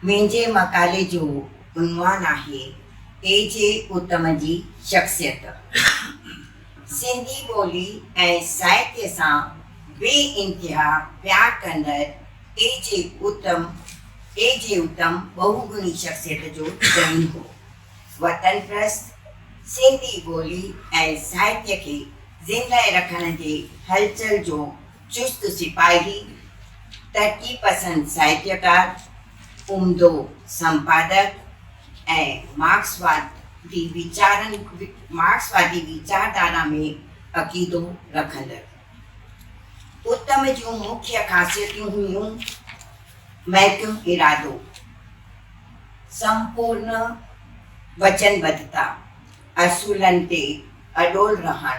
منهنجي مقالي جو عنوان آهي اي جي اتم جي شخصيت، سنڌي ٻولي ۽ ساهتيه سان بي انتها پيار ڪندڙ اي جي اتم اي جي اتم ٻهوگڻي شخصيت جو ڌڻي هو. وطن پرست، سنڌي ٻولي ۽ ساهتيه کي زندهه رکڻ جي هلچل جو چست سپاهي، ترقي پسند ساهتيڪار، عمدو سمپادڪ ۽ مارڪسوادي ويچارن مارڪسوادي ويچاردارا ۾ عقيدو رکندڙ. اتم جون مکيه خاصيتون هيون، محڪم ارادو، سمپورن وچنبڌتا، اصولن تي اڏول رهڻ،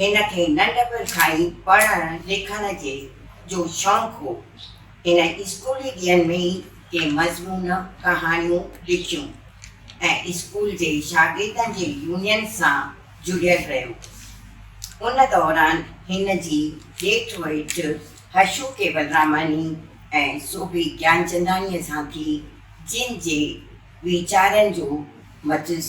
هن کي ننڍپڻ کان ئي پڙهڻ لکڻ جي جو شوق هو. هن اسڪولي ڏينهن ۾ ئي ڪي مضمون، ڪهاڻيون لکيون ۽ اسڪول جي شاگردن جي يونين سان جڙيل رهيو. ان دوران هن جي ڄيٺ ويٺ هشو ڪيولراماني ۽ سوڀي گيانچنداڻيء سان ٿي، جن جي ويچارن جو مجلس.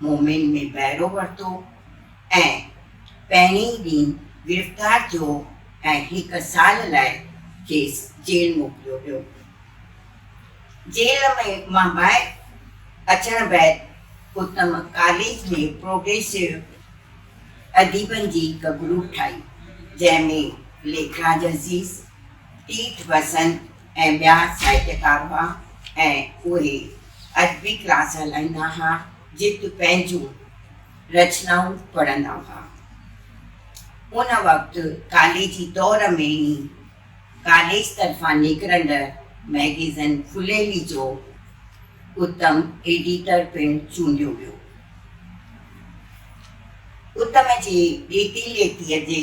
مومن ۾ بهرو ورتو ۽ پهرين ڏينهن گرفتار ٿيو ۽ هڪ سال لاء کيس جيل موڪليو ويو. جيل مان ٻاهر اچڻ بعد اتم ڪاليج ۾ پروگريسو اديبن جي هڪ گروپ ٺاهي، جنهن ۾ ليکراج عزيز، تيرٿ وسند، ۽ ٻيا ساهتيڪار هئا ۽ اهي ادبي ڪلاس هلائيندا ها جت پنهنجون رچنائون پڙهندا هئا. ان وقت ڪاليجي دور ۾ ئي ڪاليج طرفان نڪرندڙ مئگيزن ڦليلي جو اتم ايڊيٽر پڻ چونڊيو ويو. اتم جي ڏيتي ليتيء جي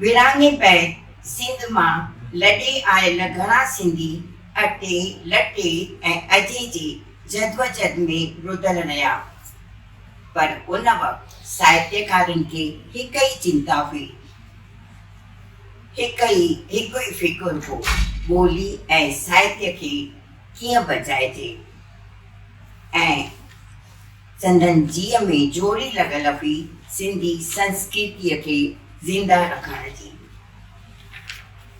ورهاڱي پئي سنڌ مان لڏي آيل گهڻا سنڌي اٽي، لٽي ۽ اجهي جي جدوجھد ۾ رڌل رهيا. پر ان وقت ساهتيڪارن کي هڪ ئي چنتا هئي، هڪ ئي هڪ ئي فڪر هو، ٻولي ۽ ساهتيه کي ڪيئن بچائجي ۽ سندن جيء ۾ جوڙي لڳل هئي سنڌي سنسڪرتيء کي زنده رکڻ جي.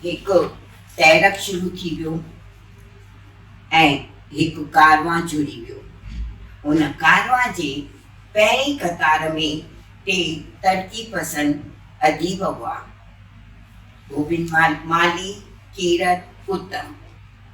هڪ تحرڪ شروع ٿي ويو ۽ هڪ ڪاروان جڙي ويو. ان ڪاروان جي پهرين قطار ۾ ٽي ترقي پسند اديب هئا، گوبند مالهي، ڪيرت اتم.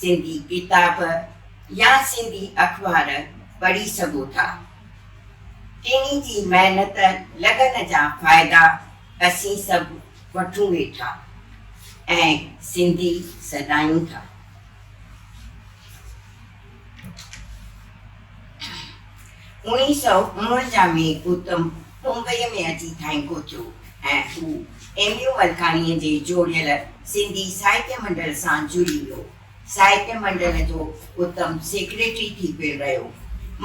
سنڌي ڪتاب يا سنڌي اخبار پڙهي سگهو ٿا. ٽنهي جي محنت لگن جا فائدا اسين سڀ وٺون ويٺا ۽ سنڌي سڏايون ٿا. اوڻيهه سؤ اڻونجاهه ۾ گوتم ممبئيء ۾ اچي ٿانء پهتيو ۽ هو ايم يو ملڪاڻيء جي جوڙيل سنڌي ساهتيه منڊل سان جڙي ويو. ساهتيه منڊل جو اتم سيڪريٽري ٿي پڻ رهيو.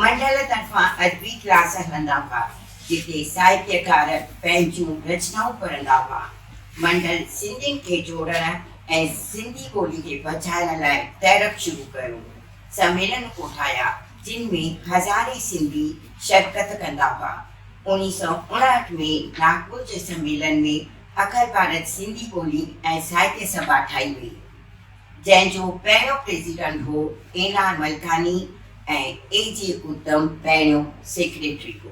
منڊل طرفان ادبي ڪلاس هلندا هئا، جتي ساهتيڪار پنهنجون رچنائون پڙهندا هئا. منڊل سنڌين کي جوڙڻ ۽ سنڌي ٻولي کي بچائڻ لاء تحرڪ شروع ڪيو. سميلن ڪوٺايا، جن ۾ هزارين سنڌي شرڪت ڪندا هئا. اوڻيهه سؤ اڻهٺ ۾ ناگپور جي سميلن ۾ اکر ڀارت سنڌي ٻولي ۽ ساهتيه سڀا ٺاهي وئي، جنهن جو پهريون پريزيڊنٽ هو اين آر ملڪاني ۽ اي جي اتم پهريون سيڪريٽري هو.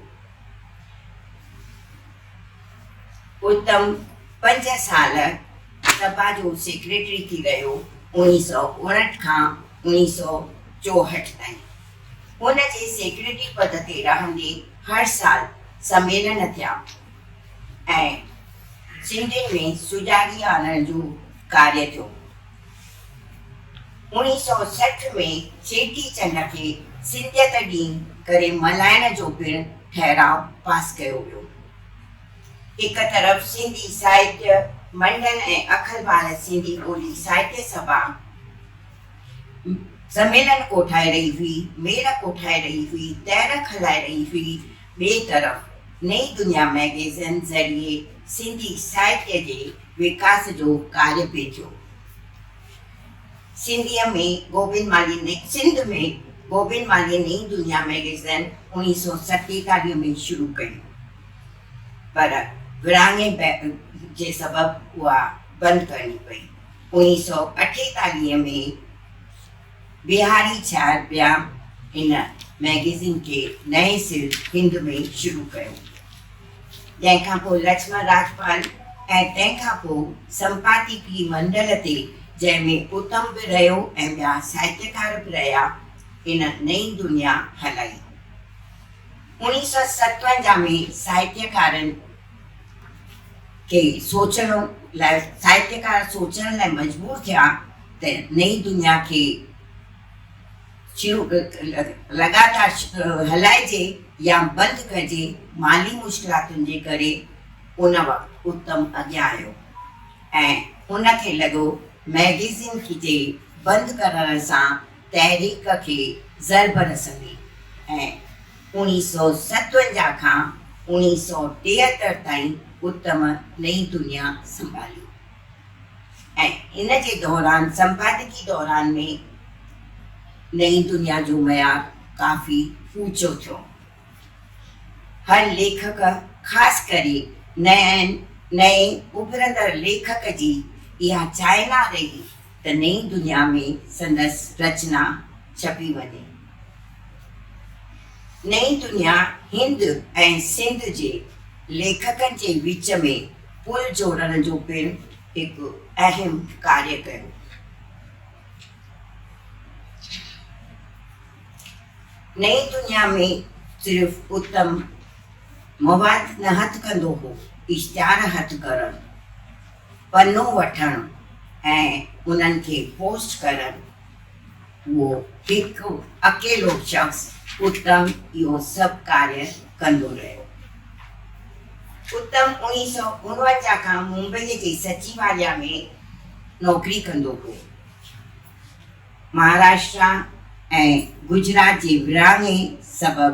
اتم پنج سال سڀا جو سيڪريٽري ٿي رهيو، اوڻيهه سؤ اڻهٺ کان اوڻيهه سؤ چوهٺ تائين. هن جي سيڪريٽري پد تي رهندي هر سال سميلن ٿيا ۽ سنڌين ۾ سجاڳي آڻڻ جو ڪاري ٿيو. اوڻيهه سؤ سٺ ۾ چيٽي چنڊ کي سنڌيت ڏينهن ڪري ملهائڻ جو پڻ ٺهراء پاس ڪيو ويو. هڪ طرف سنڌي ساهتيه منڊل ۽ اکل ڀال سنڌي ٻولي ساهتيه سڀا، زميلن ڪوٺائي رهي هئي، ميڙ ڪوٺائي رهي هئي، تحرڪ هلائي رهي هئي، ٻئي طرف نئين دنيا مئگيزين ذريعي سنڌي ساهتيه جي وڪاس جو ڪارج پئي ٿيو. سنڌيء ۾ گوبند مالهي نئين سنڌ ۾ گوبند مالهيء نئين دنيا مئگيزين اوڻيهه سئو ستيتاليهه ۾ شروع ڪئي پر ورهاڱي جي سبب اها بند ڪرڻي پئي. اوڻيهه سؤ اٺيتاليهه ۾ بيهاري ڇار بيام هن مئگزين کي نئين سر هند ۾ شروع ڪيو، جنهن کان پوء لڇمڻ راجپال ۽ تنهن کان پوء سمپاديڪي منڊل تي جنهن ۾ اتم به رهيو ۽ ٻيا ساهتيڪار به رهيا، هن نئين دنيا هلائي. اوڻيهه سؤ ستونجاهه ۾ ساهتيڪارن. کي سوچڻ لاء ساهتيڪار سوچڻ لاء مجبور ٿيا ته نئين دنيا کي شروع لڳاتار هلائجي يا بند ڪجي، مالي مشڪلاتن جي ڪري ان وقت اتم اڳيان آيو ۽ ان کي لڳو مئگزين جي بند ڪرڻ سان تحريڪ کي ضرب رسندي ۽ اوڻيهه سؤ ستونجاهه کان اوڻيهه سؤ ٽيهتر تائين اتم نئين دنيا سنڀالي ۽ ان جي دوران سمپادڪي دوران ۾ نئين دنيا جو معيار ڪافي اوچو ٿيو. هر ليکڪ خاص ڪري نئين نئين اڀرندڙ ليکڪ جي اها چاهنا رهي ته نئين دنيا ۾ سندس رچنا ڇپي وڃي. نئين دنيا هند ۽ سنڌ جي ليکڪن جي وچ ۾ پل جوڙڻ جو پڻ هڪ اهم ڪاري ڪيو. نئين دنيا ۾ صرف اتم مواد نه هٿ ڪندو هو، اشتهار هٿ ڪرڻ. پنو وٺڻ ۽ انهن کي پوسٽ ڪرڻ اهو هڪ اڪيلو شخص اتم اهو سڀ ڪاريه ڪندو رهيو. اتم اوڻيهه سؤ اڻونجاهه کان ممبئيء جي سچيواليا ۾ نوڪري ڪندو هو. مهاراشٽرا ۽ گجرات جي ورهاڱي سبب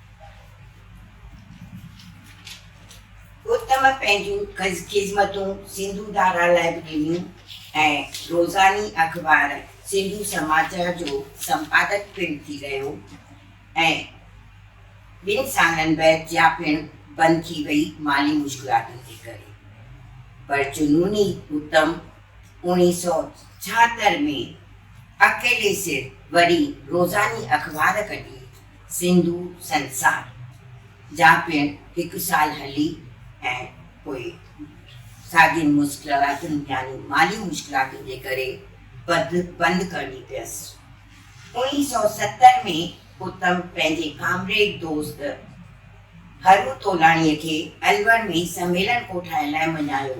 گوتم پنهنجون خذمتون سنڌو ڌارا لاء به ڏنيون ۽ روزاني اخبار سنڌو سماج جو سمپادڪ پڻ ٿي رهيو ۽ ٻن سالن بعد جيا پڻ بند ٿي وئي مالي مشڪلاتن جي ڪري پر جنوني گوتم اوڻيهه سؤ ڇاهتر ۾ اڪيلي سر وري روزاني اخبار ڪڍي سنڌو سنسار جا پڻ هڪ سال هلي ۽ پوء ساڳين مشڪلاتن يعني مالي مشڪلاتن جي ڪري بند بند ڪرڻي پيس. اوڻيهه سؤ ستر ۾ اتم پنهنجي ڪامريڊ دوست هرو تولاڻيء کي الور ۾ سميلن ڪوٺائڻ لاء مڃايو.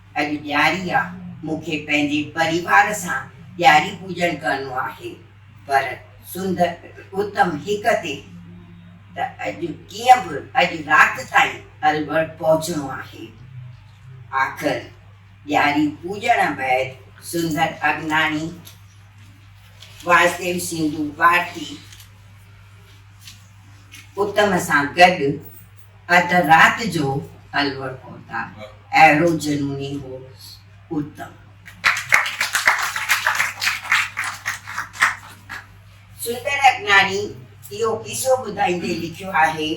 اڄ ڏياري آ مون کي پنهنجي پريوار سان ڏياري پوڄڻ ڪرڻو آهي پر سنڌ اتم هڪ تي ته اڄ ڪيئن به اڄ رات تائين الور پهچڻو آهي آخر ڏياري پوڄڻ بعد سندر اگناڻي واسديو سنڌو ڀارتي اتم سان گڏ اڌ رات جو الور پهتا، اهڙو جنوني هو اتم. سندر اگناڻي اهو قصو ٻڌائيندي لکيو آهي،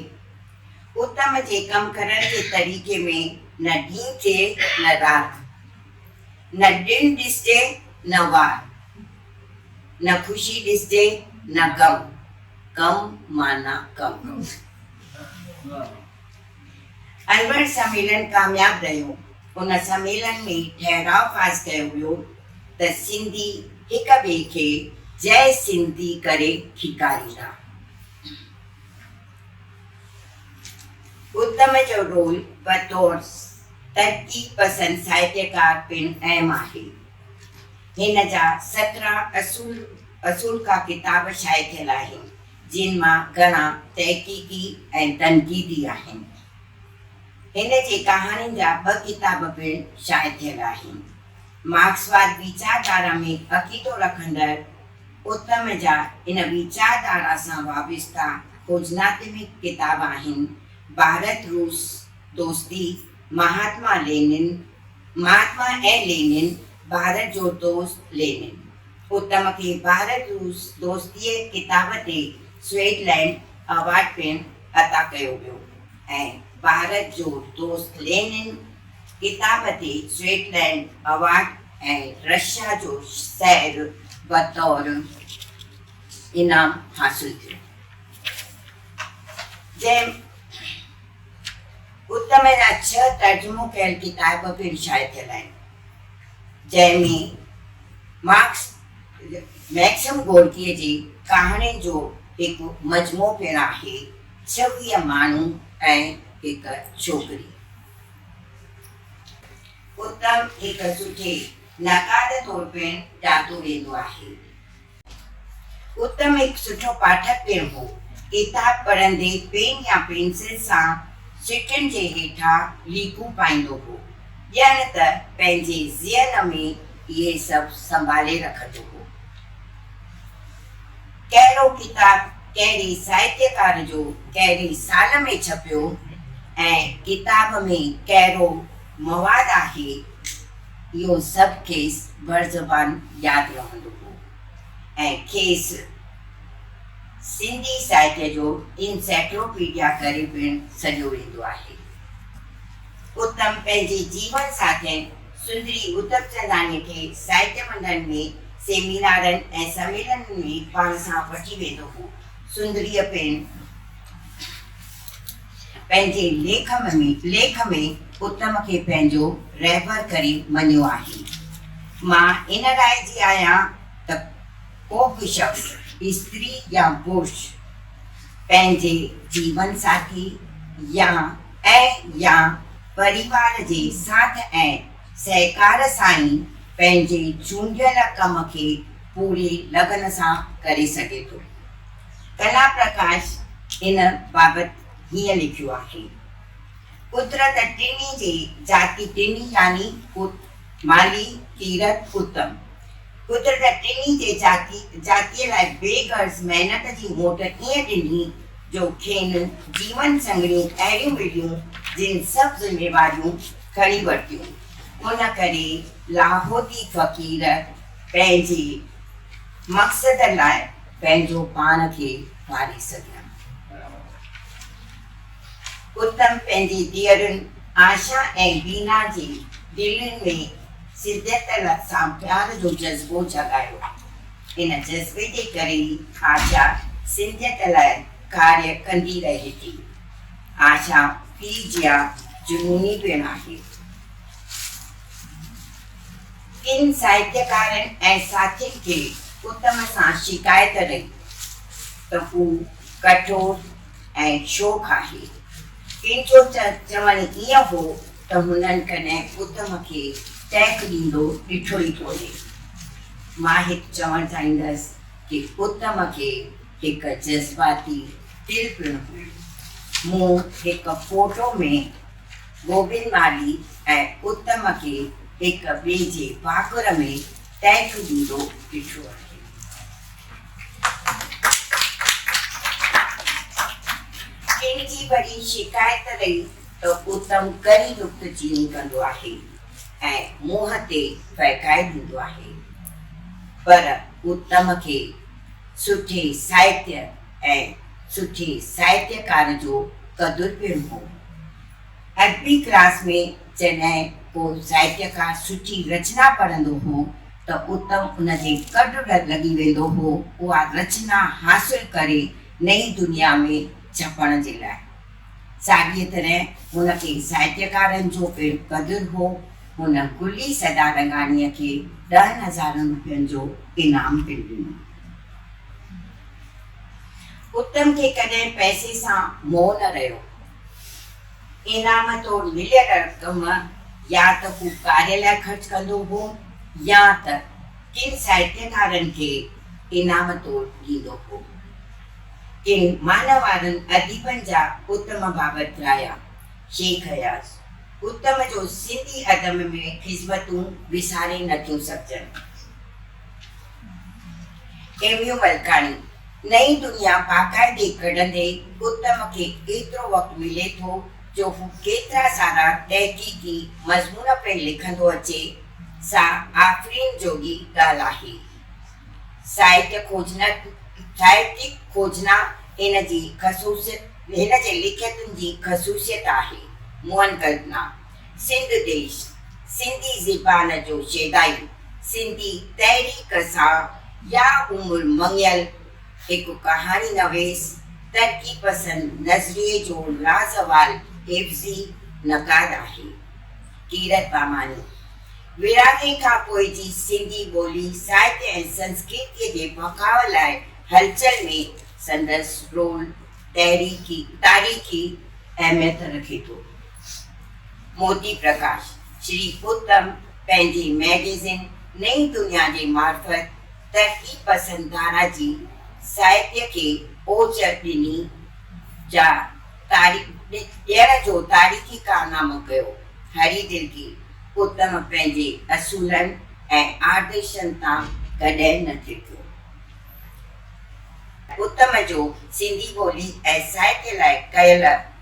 اتم جي ڪم ڪرڻ جي طريقي ۾ نه ڏينهن چئي نه رات، نه ڏڻ ڏسجي نه وار، نه خوشي ڏسجي نه غم، ڪم معنيٰ ڪم. البرٽ سميلن ڪامياب رهيو. ان سميلن ۾ ٺهراء پاس ڪيو ويو ته سنڌي هڪ ٻئي کي جئه سنڌي ڪري ٿيڪاريندا. اتم جو رول بطور ترقي پسند ساهتيڪار پڻ اهم آهي. هن جا سترهن اصول اصول ڪا ڪتاب شايع ٿيل آهن. جن مان گهڻا تحقيقي ۽ تنقيدي آهن. هن جي ڪهاڻين جا ٻه ڪتاب پڻ شايع ٿيل آهن. مارڪسواد ويچارڌارا ۾ عقيدو رکندڙ اتم جا ان ويچارڌارا سان وابسته کوجناتمڪ ڪتاب آهن، ڀارت روس دوستي، مهاتما لينن، مهاتما ۽ لينن، ڀارت جو دوست لينن، اتم کي ڀارت روس دوستيء ڪتاب تي سوئيڊلينڊ ايوارڊ پڻ عطا ڪيو ويو ۽ ڀارت جو دوست لينن ڪتاب تي سوئيڊلينڊ ايوارڊ ۽ رشيا جو شهر بطور انعام حاصل ٿيو جنهن ات ۾ جا ڇهه ترجمو ڪيل ڪتاب پڻ شايع ٿيل آهن، جنهن ۾ مارڪس مئڪسم گورڪيء جي ڪهاڻين جو هڪ مجموعو پڻ آهي، ڇويهه ماڻهو ۽ هڪ ڇوڪري. ات هڪ سٺي نقاد طور پڻ ڄاتو ويندو آهي. اتم هڪ سٺو پاٺڪ پڻ هو. ڪتاب پڙهندي پين يا پينسل سان سٽن جي هيٺان ليڪون پائيندو هو. ڄڻ ته پنهنجي ذهن ۾ اهي سڀ سنڀالي رکندو هو. ڪهڙو ڪتاب ڪهڙي ساهتيڪار جو ڪهڙي سال ۾ ڇپيو ۽ ڪتاب ۾ ڪهڙو مواد آهي، اهو سڀ کيس برزبان ياد رهندو هو ۽ کيس سنڌي ساهتيه جو انسائيڪلوپيڊيا ڪري پڻ سڏيو ويندو آهي. اتم پنهنجي جيون ساٿين سندري اتمچنداڻيء کي ساهتيه منڊن ۾، سيمينارن ۽ سميلنن ۾ پاڻ سان وٺي ويندو هو. سندريء پڻ. پنهنجي ليک ليک ۾ اتم کي پنهنجو رهبر ڪري مڃيو آهي. مان ان راء جي آهيان ته ڪو به شخص، استري يا پرش، پنهنجي جيون ساٿي يا ۽ يا پريوار جي ساٿ ۽ سهڪار سان ئي پنهنجي چونڊيل ڪم کي پوري لگن سان ڪري سگهي ٿو. ڪلا پرڪاش ان بابت هيئن لکيو آهي، قدرت ٽنهي جي ذاتي ٽنهي يعني ڪوٽ، مالي، تيرٿ، اتم. قدرت ٽنهي جي ذاتي ذاتيء لاء بي غرض محنت جي موٽ ائين ڏني جو کين جيون سنگھڙيون اهڙيون مليون جن سڀ ذميواريون کڻي ورتيون. ان ڪري لاهوتي فقير پنهنجي مقصد لاء. پنهنجو پاڻ کي ماري سگهيم. اتم پنهنجي ڌيئرن آشا ۽ بينا جي دلين ۾ سديت سان پيار جو جذبو جڳايو. ان جذبي جي ڪري ئي آشا سديت لاء ڪاري ڪندي رهي ٿي. آشا پيء جيان جنوني پڻ آهي. ڪن ساهتيڪارن ۽ ساٿين کي اتم سان شڪايت رهي ته هو ڪٺور ۽ شوخ آهي. ڪن جو ته چوڻ ائين هو ته هنن ڪڏهن اتم کي ٽيڪ ڏيندو ڏٺو ئي ڪونهي. مان هت چوڻ چاهيندس ته اتم کي هڪ جذباتي دل پڻ هئي. مون هڪ فوٽو ۾ گوبند مالهي ۽ اتم کي هڪ ٻئي جي ڀاڪر ۾ ٽهڪ ڏيندو ڏٺو آهي. ڪنهن جي وري شڪايت رهي ته اتم ڪري نڪته چيني ڪندو آهي ۽ منهن تي ڦهڪائي ڏيندو آهي. پر اتم کي سٺي ساهتيه ۽ سٺي ساهتيڪار جو قدر پڻ هو. ادبي ڪلاس ۾ جڏهن ڪو سائٽ کان سٺي رچنا پڙهندو هو ته اتم ان جي ڪڊ لڳي ويندو هو اها رچنا حاصل ڪري نئين دنيا ۾ ڇپڻ جي لاء. ساڳيء طرح هن کي سائٽڪارن جو پڻ قدر هو. هن گلي سدا رنگاڻيء کي ڏهن هزارن روپين جو انعام پڻ ڏنو. اتم کي ڪڏهن پئسي سان موهه نه رهيو. انعام طور مليل رقم يا ته هو ڪاري لاء خرچ ڪندو هو يا ته ڪن ساهتيڪارن کي انعام طور ڏيندو هو. ڪن معنيوارن اديبن جا اتم بابت رايا، شيخ اياز، اتم جو سنڌي ادب ۾ خذمتون وساري نٿيون سگهجن. ايميو ملڪاڻي، نئين دنيا باقاعدي ڪڍندي اتم کي ايترو وقت ملي ٿو جو هو ڪيترا سارا تحقيقي مضمون پڻ لکندو اچي، سا آفرين جوڳي ڳالهه آهي. سائٽ کوجنت، Sciatic Khojna، هن جي خصوصيت، هن جي لکيتن جي خصوصيت آهي، مؤن ڪلپنا. سنڌ ديش، سنڌي زبان جو شيدائي، سنڌي تحريڪ سان يا عمر مڱيل هڪ ڪهاڻي نويس، ترقي پسند نظريي جو لازوال حفظي نقاد آهي. ڪيرت باماني، ورهاڱي کان پوء جي سنڌي ٻولي، ساهت ۽ سنسڪرتيء جي بقاء لاء هلچل ۾ سندس رول تاريخي اهميت رکي ٿو. موتي پرڪاش شري اتم پنهنجي مئگزين نئين دنيا جي معرفت ترقي پسند ڌارا جي ساهتيه کي اوچر ڏني جا ڏيڻ جو تاريخي ڪارنامو ڪيو. هري ترڪي اتم پنهنجي اصولن ۽ آدرشن تان ڪڏهن نه ٿرڪيو. اتم جو سنڌي ٻولي ۽ ساهتيه لاء ڪيل